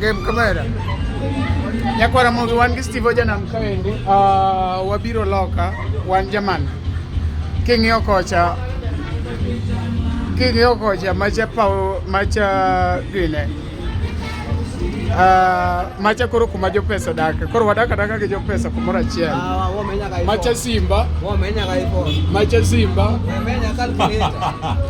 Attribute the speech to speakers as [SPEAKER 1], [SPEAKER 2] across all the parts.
[SPEAKER 1] Game kamera. Nyakwara mogi wan gi Steve Ojanam kaendi. Uh, wabiro loka wan jaman. King'iyo kocha king'iyo kocha macha pawo macha gine Uh, macha koro kuma jopesa dake koro wadak adaka gi jopesa kumoro achiel ah, macha simba macha simba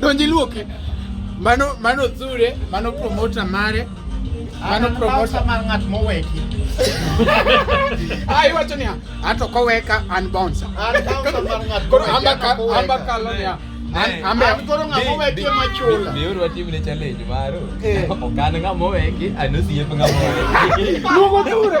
[SPEAKER 1] donji luoke mano mano zure mano promota mare mano promota mar ng'at moweki ah iwacho niya ato koweka an bouncer koro amba kalo niya koro ng'ama oweki ema chula biuru watimne challenge maro eh. okan ng'ama oweki anosiep ng'ama oweki luongo dure